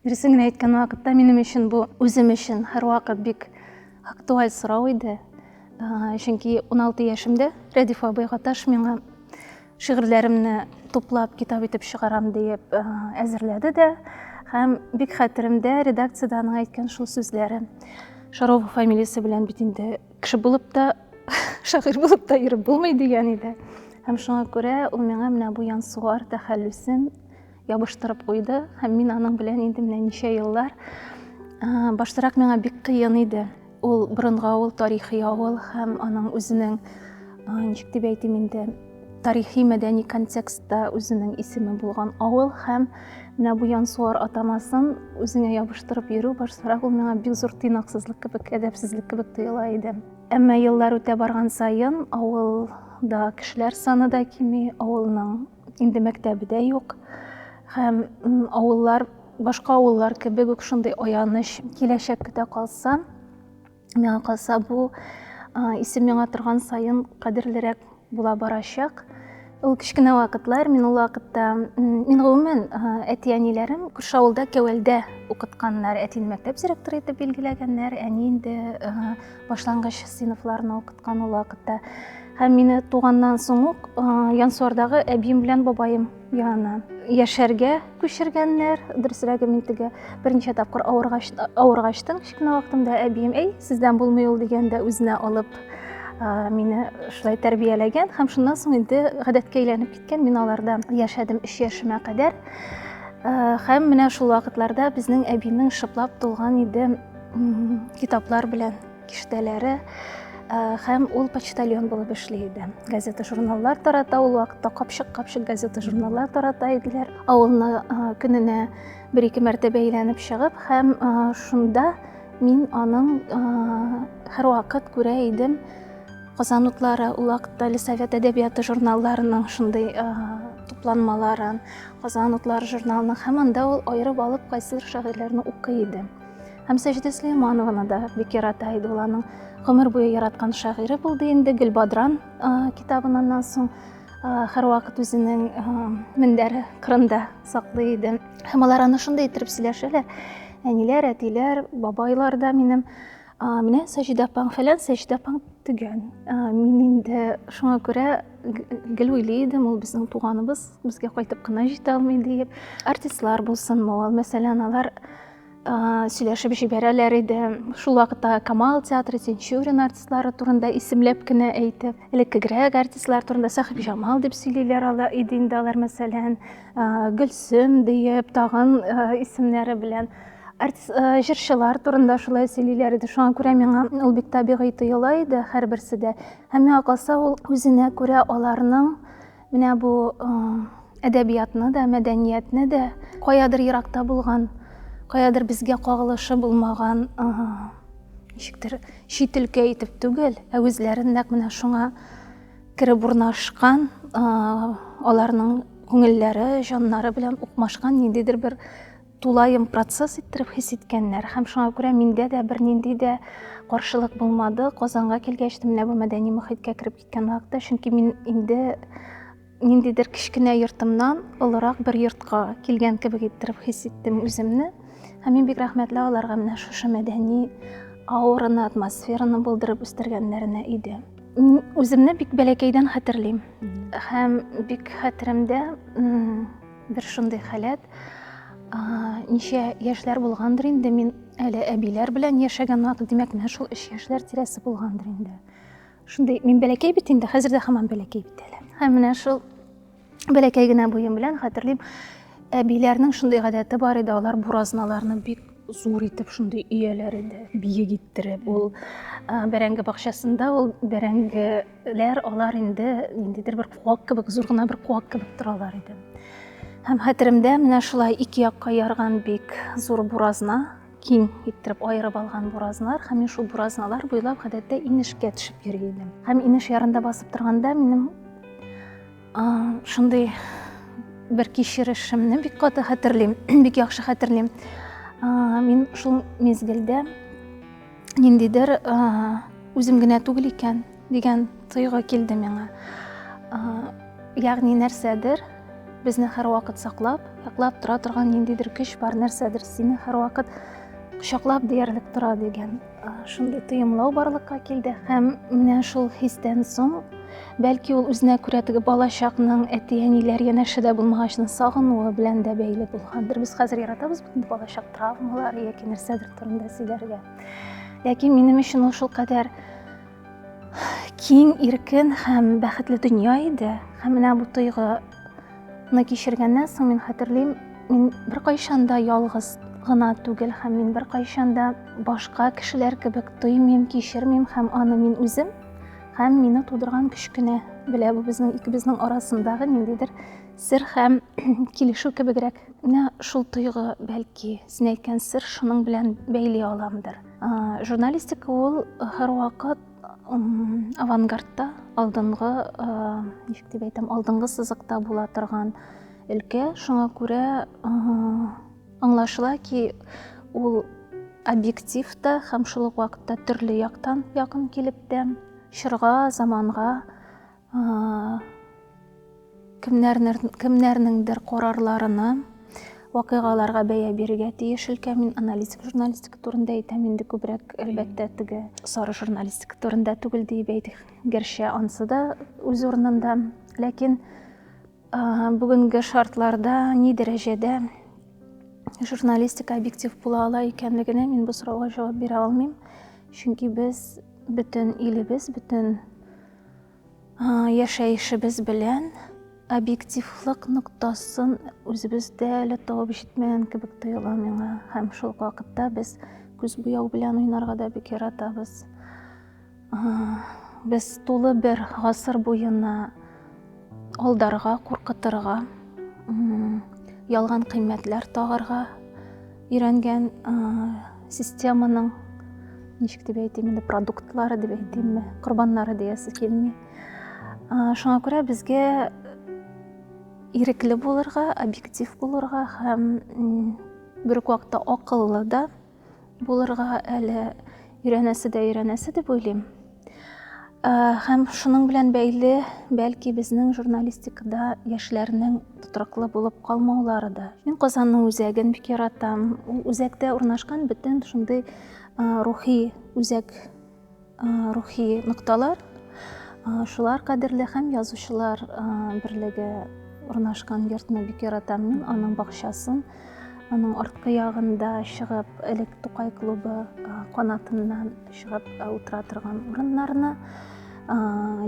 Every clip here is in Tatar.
Дөресен генә әйткән вакытта, минем өчен бу үзем өчен һәрвакыт бик актуаль сорау иде. Чөнки 16 яшемдә Рәдиф абый Гаташ миңа шигырьләремне туплап китап итеп чыгарам диеп әзерләде дә һәм бик хәтеремдә редакциядә аның әйткән шул сүзләре шарова фамилиясе белән бит инде кеше булып та шагыйрь булып та йөреп булмый дигән иде һәм шуңа күрә ул миңа менә бу янсуар тәхәллүсен Ябыштырып куйды һәм мин аның белән инде менә ничә еллар. Баштарак миңа бик кыен иде. Ул борынгы авыл, тарихи авыл һәм аның үзенең, ничек дип әйтим инде, тарихи мәдәни контекстта үзенең исеме булган авыл һәм менә бу Янсуар атамасын үзеңә ябыштырып йөрү баштарак ул миңа бик зур тыйнаксызлык кебек, әдәпсезлек кебек тоела иде. Әмма еллар үтә барган саен авылда кешеләр саны да кими, авылның инде мәктәбе дә юк һәм авыллар башка авыллар кебек үк шундый аяныч киләчәк көтә калса миңа калса бу исем яңа торган саен кадерлерәк була барачак ул кечкенә вакытлар мин ул вакытта мин гомумән әти әниләрем күрше авылда кәвәлдә укытканнар әтине мәктәп директоры итеп билгеләгәннәр әни инде башлангыч сыйныфларны укыткан ул вакытта. Һәм мине туганнан соң ук Янсуардагы әбием белән бабаем янына яшәргә күчергәннәр. Дөресрәге мин теге берничә тапкыр авыргачтың кечкенә вакытымда әбием, "Әй, сездән булмый ул" дигәндә үзенә алып мине шулай тәрбияләгән һәм шуннан соң инде гадәткә әйләнеп киткән. Мин аларда яшәдем 3 яшемә кадәр. Һәм менә шул вакытларда безнең әбинең шыплап тулган иде китаплар белән киштәләре һәм ул почтальон булып эшли иде газета журналлар тарата ул вакытта капчык капчык газета журналлар тарата иделәр авылны көненә бер ике мәртәбә әйләнеп чыгып һәм шунда мин аның һәрвакыт күрә идем казан утлары ул вакытта совет әдәбияты журналларының шундый тупланмаларын казан утлары журналының һәм анда ул аерып алып кайсыдыр шагыйрьләрне укый иде Һәм Сәҗидә Сөләйманованы да бик ярата иде ул аның гомер буе яраткан шагыйре булды инде Гөлбадран китабыннан соң һәрвакыт үзенең мендәре кырында саклый иде. Һәм алар аны шундый иттереп сөйләшәләр. Әниләр, әтиләр, бабайлар да минем менә Сәҗидә апаң фәлән Сәҗидә апаң түгән. Мин инде шуңа күрә гел уйлый идем, ул безнең туганыбыз, безгә кайтып кына җитә алмый диеп. Артистлар булсынмы ул, мәсәлән, алар сөйләшеп җибәрәләр иде шул вакытта камал театры тинчурин артистлары турында исемләп кенә әйтеп элеккегрәк артистлар турында сәхибҗамал дип сөйлиләр алар иде инде алар мәсәлән гөлсем диеп тагын исемнәре белән артист җырчылар турында шулай сөйлиләр иде шуңа күрә миңа ул бик табигый тоела иде һәрберсе дә һәм миңа калса ул үзенә күрә аларның Менә бу әдәбиятны да, мәдәниятне дә каядыр еракта булган, каядыр безгә кагылышы булмаган ничектер чит өлкә итеп түгел, ә үзләрен нәкъ менә шуңа кереп урнашкан, аларның күңелләре, җаннары белән укмашкан ниндидер бер тулаем процесс иттереп хис иткәннәр һәм шуңа күрә миндә дә бернинди дә каршылык булмады. Казанга килгәч, менә бу мәдәни мөхиткә кереп Киткән вакытта, чөнки мин инде ниндидер кечкенә йортымнан олырак бер йортка килгән кебек иттереп хис иттем үземне. Һәм мин бик рәхмәтле аларга менә шушы мәдәни аураны, атмосфераны булдырып үстергәннәренә иде. Мин үземне бик бәләкәйдән хәтерлим. Һәм бик хәтеремдә бер шундый халәт, ничә яшьләр булгандыр инде, мин әле әбиләр белән яшәгән вакыт, димәк, менә шул 3 яшьләр тирәсе булгандыр инде. Шундый мин бәләкәй бит инде, хәзер дә һаман бәләкәй бит әле. Һәм менә шул бәләкәй генә буем белән хәтерлим, әбиләрнең шундый гадәте бар иде, алар буразналарны бик зур итеп шундый өяләр иде, биек иттереп. Ул бәрәңге бакчасында ул бәрәңгеләр, алар инде ниндидер бер куак кебек, зур гына бер куак кебек торалар иде. Һәм хәтеремдә менә шулай ике якка ярган бик зур буразна киң иттереп аерып алган буразналар һәм мин шул буразналар буйлап гадәттә инешкә төшеп йөри идем һәм инеш ярында басып торганда минем шундый бер кичерешемне бик каты хәтерлим бик яхшы хәтерлим мин шул мезгелдә ниндидер үзем генә түгел икән дигән тойгы килде миңа ягъни нәрсәдер Безне һәрвакыт саклап, яклап тора торган ниндидер көч бар, нәрсәдер сине һәрвакыт кочаклап диярлек тора дигән шундый тоемлау барлыкка килде һәм менә шул хистән соң бәлки ул үзенә күрә теге балачакның әти-әниләр янәше дә булмагачны сагынуы белән дә бәйле булгандыр. Без хәзер яратабыз бит балачак травмалар яки нәрсәдер турында сөйләргә. Ләкин минем өчен ул шулкадәр Киң, иркен һәм бәхетле дөнья иде. Һәм менә бу тойгыны кичергәннән соң мин хәтерлим, мин беркайчан да ялгыз гына түгел һәм мин беркайчан да башка кешеләр кебек тоймыйм, кичермим һәм аны мин үзем һәм мине тудырган көч кенә белә. Бу безнең икебезнең арасындагы ниндидер сер һәм килешү кебегрәк. Менә шул тойгы, бәлки, син әйткән сер шуның белән бәйли аламдыр. Журналистика ул һәрвакыт авангардта, алдынгы, ничек дип әйтәм, алдынгы сызыкта була торган өлкә. Шуңа күрә аңлашыла ки, ул объектив та һәм шул ук вакытта төрле яктан якын килеп тә, чорга, заманга кемнәрнеңдер карарларына, вакыйгаларга бәя бирергә тиеш өлкә. Мин аналитик журналистика турында әйтәм, инде күбрәк, әлбәттә, теге сары журналистика турында түгел диеп әйтик. Гәрчә ансы да үз урынында. Ләкин бүгенге шартларда ни дәрәҗәдә журналистика объектив була ала икәнлегенә мин бу сорауга җавап бирә алмыйм. Чөнки без бөтен илебез, бөтен Яшәешебез белән объективлык ноктасын үзебездә әле табып җитмәгән кебек тоела миңа. Һәм шул вакытта без күз буяу белән уйнарга да бик яратабыз. Без тулы бер гасыр буена Алдарга, куркытырга, ялган кыйммәтләр тагарга өйрәнгән системаның ничек дип әйтим инде продуктлары дип әйтимме корбаннары диясе килми шуңа күрә безгә ирекле булырга объектив булырга һәм бер үк вакытта акыллы да Булырга әле өйрәнәсе дә өйрәнәсе дип уйлыйм. Һәм шуның белән бәйле, бәлки безнең журналистикада яшьләрнең тотрыклы булып калмаулары да. Мин Казанның үзәген бик яратам. Ул үзәктә урнашкан бөтен шундый рухи үзәк Рухи нокталар, шулар кадерле һәм язучылар берлеге урнашкан йортны бик яратам мин, аның бакчасын. Аның арткы ягында чыгып, элек Тукай клубы канатыннан чыгып утыра торган урыннарны,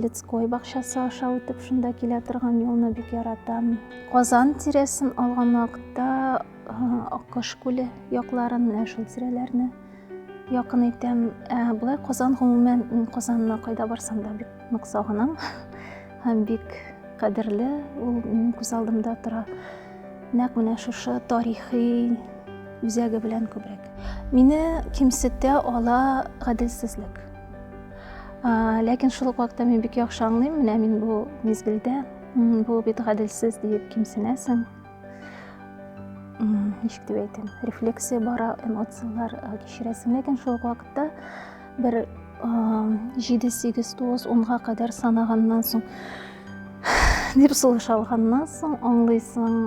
Лецкой бакчасы аша үтеп шунда килә торган юлны бик яратам. Казан тирәсен алган вакытта Аккош күле якларын, менә шул тирәләрне Якын итәм. Ә, болай Казан гомумән, мин Казанны кайда барсам да бик нык сагынам. Һәм бик кадерле, ул минем күз алдымда тора. Нәкъ менә шушы тарихи үзәге белән күбрәк. Мине кимсетә ала гаделсезлек. Ә, ләкин шул ук вакытта мин бик яхшы аңлыйм, менә мин бу мизгелдә, бу бит гаделсез диеп кимсенәсең. ничек дип әйтәм рефлексия бара эмоциялар кичерәсең ләкин шул ук вакытта бер җиде сигез тугыз онга кадәр санаганнан соң дип сулыш алганнан соң аңлыйсың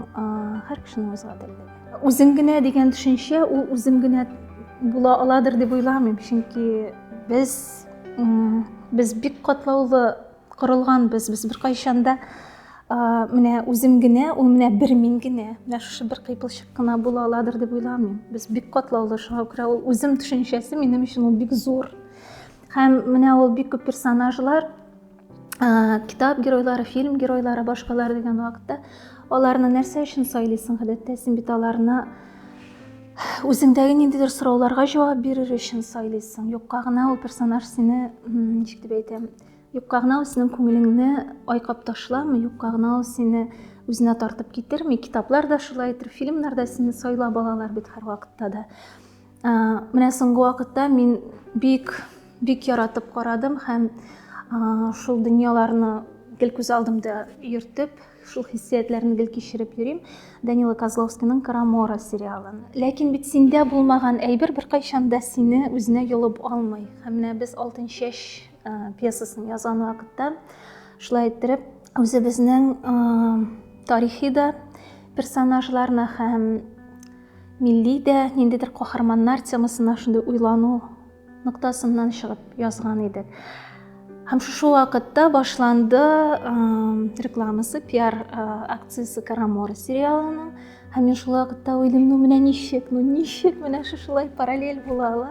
һәр кешенең үз гаделлеге үзем генә дигән төшенчә ул үзем генә була аладыр дип уйламыйм чөнки без без бик катлаулы корылган без без беркайчан да менә үзем генә ул менә бер мин генә менә шушы бер кыйпылчык кына була аладыр дип уйламыйм без бик катлаулы шуңа күрә ул үзем төшенчәсе минем өчен ул бик зур һәм менә ул бик күп персонажлар китап геройлары фильм геройлары башкалар дигән вакытта аларны нәрсә өчен сайлыйсың гадәттә син бит аларны үзеңдәге ниндидер сорауларга җавап бирер өчен сайлыйсың юкка гына ул персонаж сине ничек дип әйтәм Юкка гына ул синең күңелеңне айкап ташламый, юкка гына ул сине үзенә тартып китерми. Китаплар да шулай итер, фильмнар да сине сайлап алалар бит һәрвакытта да. Ә, менә соңгы вакытта мин бик бик яратып карадым һәм ә, шул дөньяларны гел күз алдымда йөртеп, шул хиссиятләрне гел кичереп йөрим. Данила Козловскийның Карамора сериалын. Ләкин бит синдә булмаган әйбер беркайчан да сине үзенә йолып алмый. Һәм менә без алтынчәч пьесасын язган вакытта шулай иттереп үзебезнең тарихи да персонажларына һәм милли дә ниндидер каһарманнар темасына шундый уйлану ноктасыннан чыгып язган идек һәм шушы вакытта башланды рекламасы пиар акциясе карамора сериалының һәм мин шул вакытта уйлыйм ну менә ничек ну ничек менә шушылай параллель була ала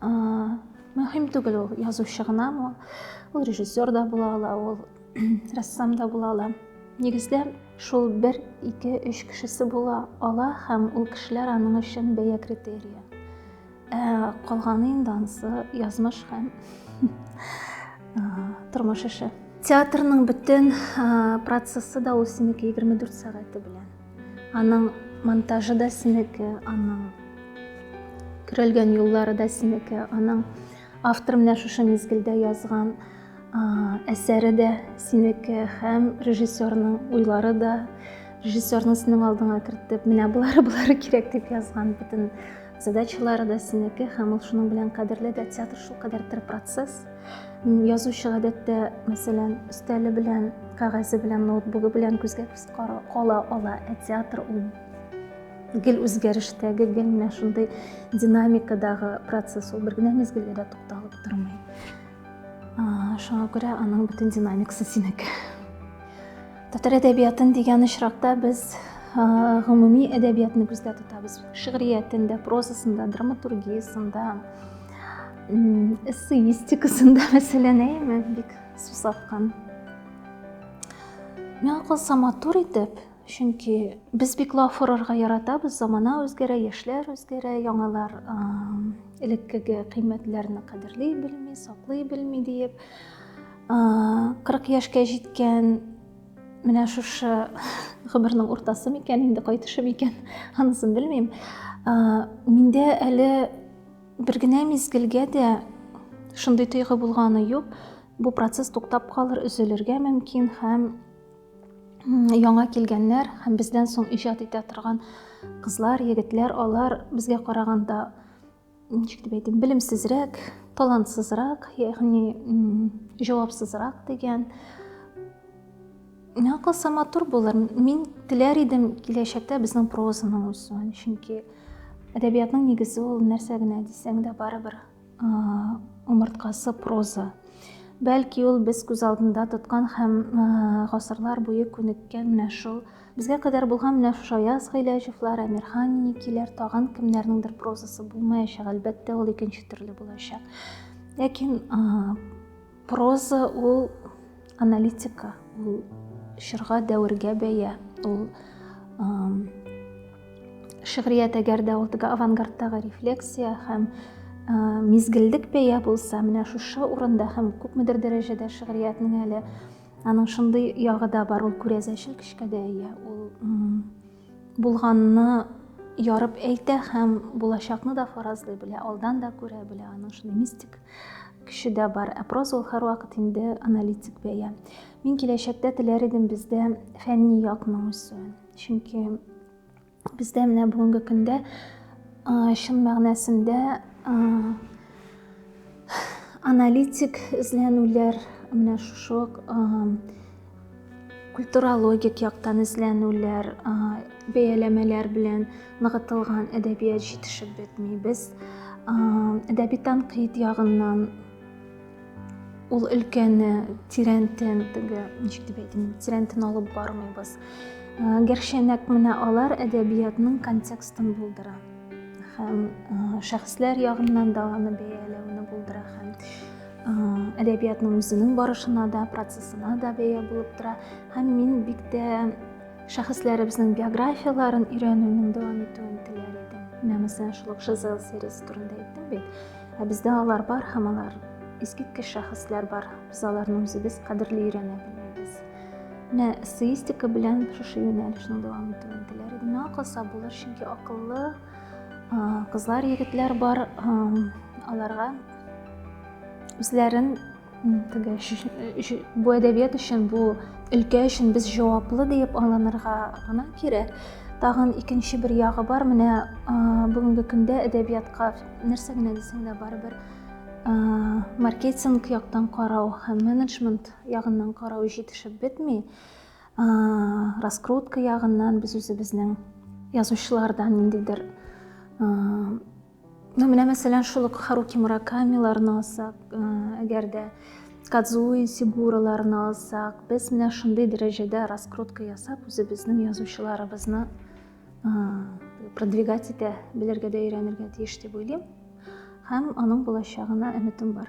мөһим түгел ул язучы гынамы ул режиссер да була ала ул рәссам да була ала нигездә шул бер ике өч кешесе була ала һәм ул кешеләр аның өчен бәя критерия ә калганы инде анысы язмыш һәм тормыш эше театрның бөтен процессы да ул синеке егерме дүрт сәгате белән Аның монтажы да синеке, аның көрәлгән юллары да синеке, аның автор менә шушы мизгелдә язган әсәре дә синеке һәм режиссерның уйлары да режиссерның синең алдыңа кертеп менә болары болары кирәк дип язган бөтен задачалары да синеке һәм ул шуның белән кадерле дә театр шулкадәр тер процесс язучы гадәттә мәсәлән өстәле белән кәгазе белән ноутбугы белән күзгә Кара кала ала ә театр ул гел үзгәрештәге, гел менә шундый динамикадагы процесс ул бер генә мизгелгә дә тукталып тормый. Шуңа күрә аның бөтен динамикасы синеке. Татар әдәбиятын дигән очракта без гомуми әдәбиятны күздә тотабыз. Шигъриятендә, прозасында, драматургиясендә, эссеистикасында мәсәлән, әйме бик сусаткан Миңа калса матур итеп, чөнки без бик лаф урарга яратабыз, замана үзгәрә, яшьләр үзгәрә, яңалар элеккеге кыйммәтләрне кадерли белми, саклый белми диеп, 40 яшькә җиткән менә шушы гомернең уртасы микән, инде кайтышы микән, анысын белмим. Миндә әле бер генә мизгелгә дә шундый тойгы булганы юк. Бу процесс туктап калыр, өзелергә мөмкин һәм яңа килгәннәр һәм бездән соң иҗат итә торган кызлар, егетләр, алар безгә караганда ничек дип әйтим, белемсезрәк, талантсызрак, ягъни җавапсызрак дигән. Миңа калса матур булыр. Мин теләр идем киләчәктә безнең прозаның үсүен, чөнки әдәбиятның нигезе ул нәрсә генә дисәң дә барыбер Умырткасы проза. Бәлки ул без күз алдында тоткан һәм гасырлар буе күнеккән менә шул безгә кадәр булган менә шушы Аяз Гыйләҗевләр, Әмирхан Никиләр, тагын кемнәрнеңдер прозасы булмаячак, әлбәттә, ул икенче төрле булачак. Ләкин Проза ул аналитика, ул чорга, дәвергә бәя, ул шигърият әгәр дә ул теге авангардтагы рефлексия һәм мизгеллек бәя булса, менә шушы урында һәм күпмедер дәрәҗәдә шигъриятнең әле аның шундый ягы да бар, ул күрәзәчел көчкә дә ия, ул Булганны ярып әйтә һәм булачакны да фаразлый белә, алдан да күрә белә. Аның шундый мистик көче дә бар. Ә проза ул һәрвакыт инде аналитик бәя. Мин киләчәктә теләр идем бездә фәнни якның үсүен. Чөнки бездә менә бүгенге көндә чын мәгънәсендә аналитик эзләнүләр менә шушы культурологик яктан эзләнүләр, бәяләмәләр белән ныгытылган әдәбият җитешеп бетми. Без әдәби танкыйт ягыннан ул өлкәне тирәнтен теге, ничек дип әйтим, тирәнтен алып бармыйбыз. Гәрчә нәкъ менә алар әдәбиятның контекстын булдыра һәм шәхесләр ягыннан да аны бәяләүне булдыра һәм әдәбиятның үзенең барышына да процессына да бәя булып тора һәм мин бик тә шәхесләребезнең биографияларын өйрәнүнең дәвам итүен теләр идем менә мәсәлән шул ук жизел сериясе турында әйттем бит ә бездә алар бар һәм алар искиткеч шәхесләр бар без аларны үзебез кадерли өйрәнә белмибез менә эссеистика белән шушы юнәлешнең дәвам итүен теләр идем миңа калса булыр чөнки акыллы кызлар егетләр бар аларга үзләрен теге бу әдәбият өчен бу өлкә өчен без җаваплы диеп алынырга гына кирәк тагын икенче бер ягы бар менә бүгенге көндә әдәбиятка нәрсә генә дисәң дә барыбер маркетинг яктан карау һәм менеджмент ягыннан карау җитешеп бетми раскрутка ягыннан без үзебезнең язучылардан ниндидер Ну, менә мәсәлән, шул ук Харуки Муракамиларны алсак, э, әгәр дә Кадзуи Сигураларны алсак, без менә шундый дәрәҗәдә раскрутка ясап, үзебезнең язучыларыбызны э, продвигать итә белергә дә өйрәнергә тиеш дип уйлыйм. Һәм аның булачагына өметем бар.